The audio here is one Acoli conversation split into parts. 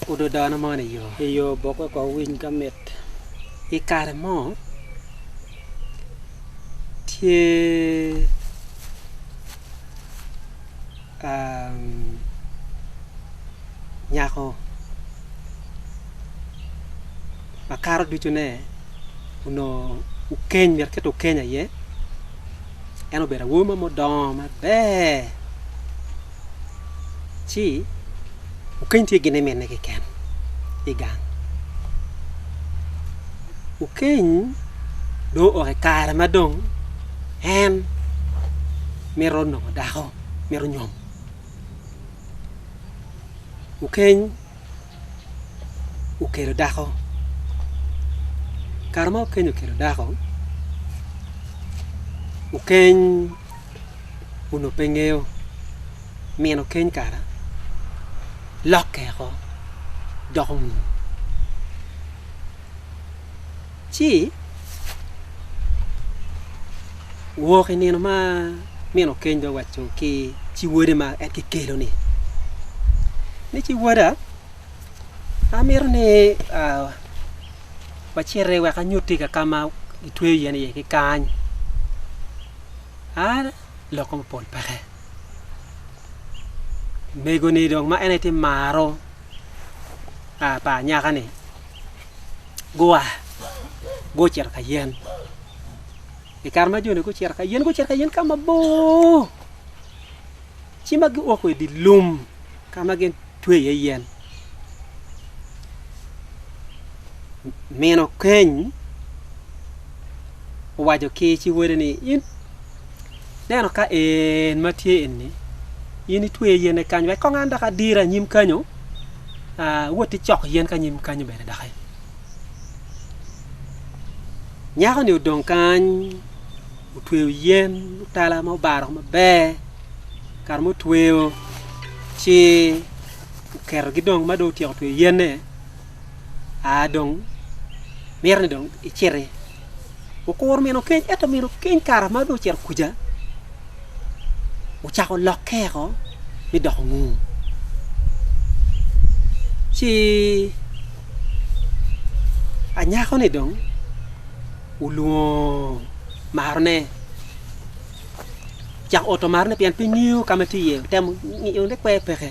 Odo dano man i yo. I yo bok wek owiny ka mit. I kare mo, tye um, nyako makato ducune onongo okeny, myero kit okeny aye. en obedo awobi mo maber ci okeny tye gin iminne keken igang okeny dong oo i kare ma dong en mito nongo dako mito nyom okeny okelo dako kare ma okenyo okelo dako okeny onongo pe ngeyo nino keny kara lokke woko doko munu. Ci wok i nino ma min okeny dong owaco ki ci wode ma en kikelo-ni ni, 'Ci woda, amito ni waciti wek anyutti i ka ka ma gitweyo yen iye-ni kany. A Lok mo mapol peke. Omego-ni dong ma en aye tye maro pa anyaka-ni. gua gucito ka yen. I kare ma joni gucito ka yen, gucito ka yen ka mabor, ci ma guoko i dye lum ka ma gitwe iye yen. Mino keny owaco ki ci wele ni, In Neno ka en ma tye eni, in itweyo yene kany wek kong an dok adira anyim kanyo, wot icok yen ka nyim kanyo bene doki. Nyako-ni odong kany, otweyo yen mutala ma obaro maber, kare ma otweyo ci oketogi dong ma dong otyeko tweyo yene. aa dong mito ni dong iciti. Okuru mino keny, ento mino keny kara ma dong ocito kuca, ocako lokke eko mi doko ngur. Ci anyako-ni dong olwongo marone, ocako oto marone pien pe ngeyo ka ma tye iye, otemo ngiyo ni kwer peke.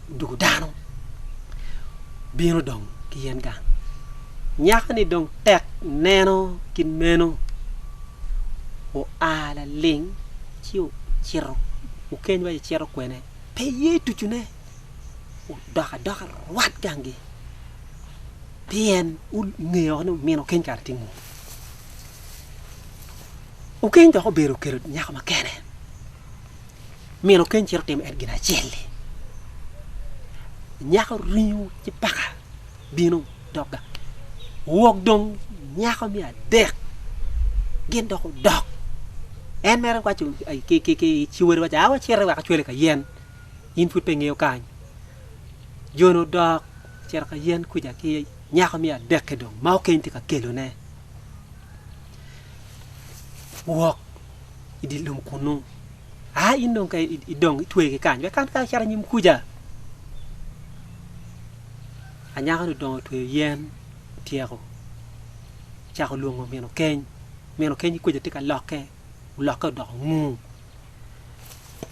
doko dano bino dong ki yen gang. Nyako-ni dong tek neno kit meno, oa laling ci ocito okeny wa ci cito kwene, pe iye tucune, odok adoka rwat gangi pien ongeyo woko ni omin okeny kare tye ngo. Okeny dok obedo oketo nyako ma kene. Myero Kain cit otim en gin acel-li. Nyako ringo ci paka bino dogga. Wok dong nyako me adek gin dok odok. En mere waco ki ciwere waco, awa cite wek acwele ka yen. In pud pe ngeyo kany. Jone odok cito ka yen kuca ki nyako me adek-ki dong ma okeny tye ka kelone. Wok i dye lum kunnu. A in dong ka idong itwe ki kany, wek kan ka icato nyim kuca. Anyaka ni odongo otweyo yen tyeko cako lwongo mino keny. Mino keny kuca tye ka lokke, olokke odoko ngung.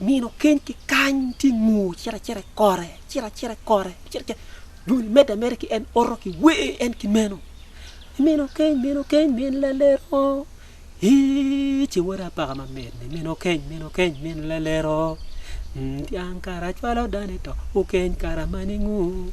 nino keny ki kany tye ngu cito acita i kore, cito acita i kore, cito acita. Dong imedde ameda ki en oto ki wer en ki meno. Mino keny, mino keny, min lalero. Ii, ce wada apaka mamit ni mino keny, mino keny, min lalero. Mm, Dyang kara cwalo dane to, okeny kara mani ngu.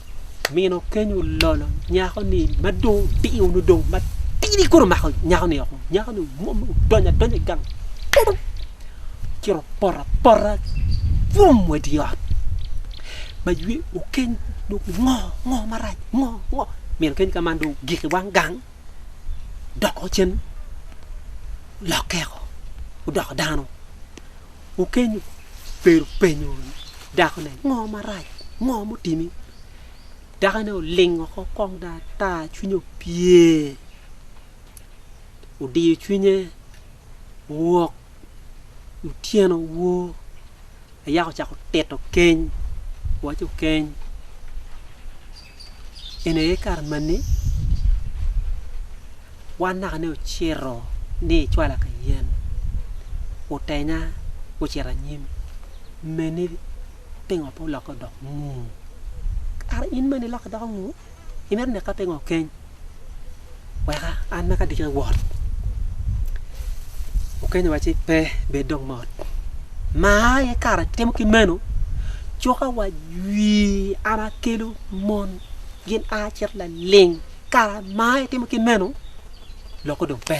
mino keny ololo nyako-ni ma dong odiyo nongo dong matidi kong omako nyako-ni woko nyako-ni omwom odonyo adonya i gang purup ci ero opoto apota bwom wa i dye ot ma ywe okeny dong ngo ngo marac ngo ngo mino keny ka man dong ogik i wang gang doko cen olokke woko odoko dano. Okenyo pero openyo dakone, Ngo marac? Ngo mutimi? Dakone olingo oko kong dong ata, cwinye opye. Odiyo cwinye, owok. Otyeno woo, ayaka ocako tito keny, waco keny. en aye kare ma ni wan naka ni ocito ni icwala ka yen otenya ocito anyim me ni pingo pe olokke odoko ngu kara in ma ni ilokke idoko ngu imito neka pingo okeny weka an ma ka atye ka wot okenyo wa ci pe bed dong mot ma aye kare atimo ki meno coka wa jwir an akelo mon gin a cito laling kara ma itimo ki meno loko dong pe.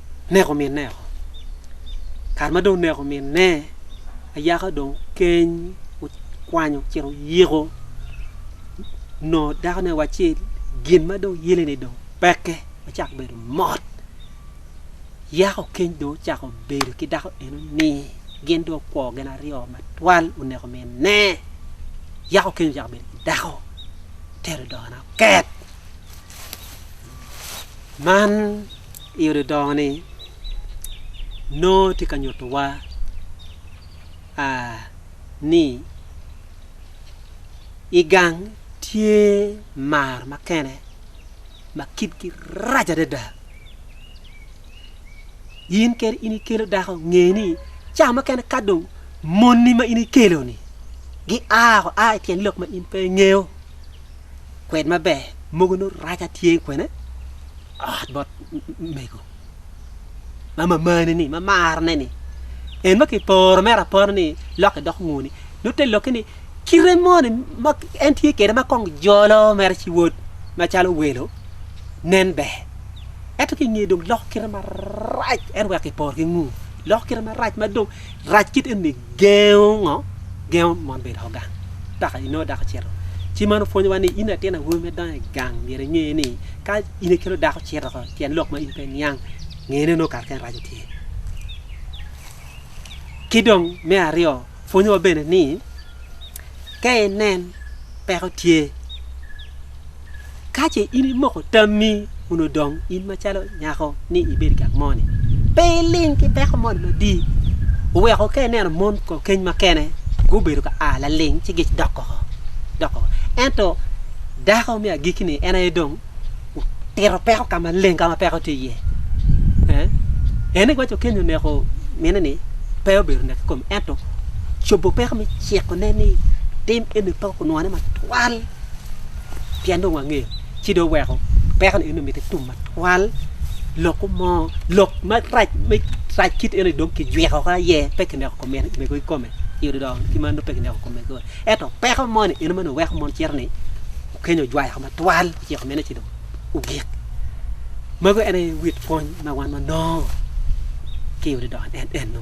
neko minne woko. Kare ma dong oneko minne, ayaka dong keny okwanyo ocito oyiko nongo dakone wa ci gin ma dong yeleni dong peke ocako bedo mot. Yako keny dong ocako bedo ki dako eno ni gin dong okwo gin aryo matwal oneko minne. Yako keny ocako bedo ki dako tero dogona oket. Man i odi dongo ni nongo tye ka nyuto wa ni i gang tye mar makene ma kitgi rac adada in kadi in ikelo dako nge ni ca mukene ka dong moni ma in ikelo ni gia woko a ityen lok ma in pe ingeyo. kwed maber mogo nongo rac atye kwene ot bot mego ma mamane ni ma marne ni en ma kiporo mere apora ni lok idok nguni nongo te lokke ni kite moni ma en tye kwede ma kong jolo mere ci wod macalo welo nen ber ento ki nge dong loko kite marac en wek kiporo ki ngu loko kite marac ma dong Rac kit eni gengo ngo? Gengo mon bedo ko gang. Daka inongo dako cito. Ci man opwonyowa ni in latin awobi me dongo i gang myero inge ni ka in ikelo dako cito ko tyen lok ma in pe niang ngene nongo kare kene raco tye. Ki dong me aryo pwonyowa bene ni ka inen peko tye Ka ce in imoko tammi kun odong in macalo nyako ni ibed i gang moni, pe iling ki peko moni madii. Oweko ka ineno mon keny makene gubedo ka a laling ci gic dok koko, dok koko. Ento dako me agikki-ni en aye dong otito peko ka maleng ka ma peko tye iye. Eh? En ni waco keny oneko mine-ni pe obedo nek ki kome ento cobo peko me cikone ni tim eni pe okunwone matwal. pien dong wangeyo ci dong weko peko ni eno mitte tum matwal lok mo lok marac me rac kit eno dong kijwiko ka ye pe kineko kome mego kome yudo dong ki man dong pe kineko kome kore eto peko mo ni eno mani weko mon cito ni Kenya ojwayo kome twal ociko mene ci dong ogik mego en aye wit pwony ma wan wanongo ki yudo dong en eno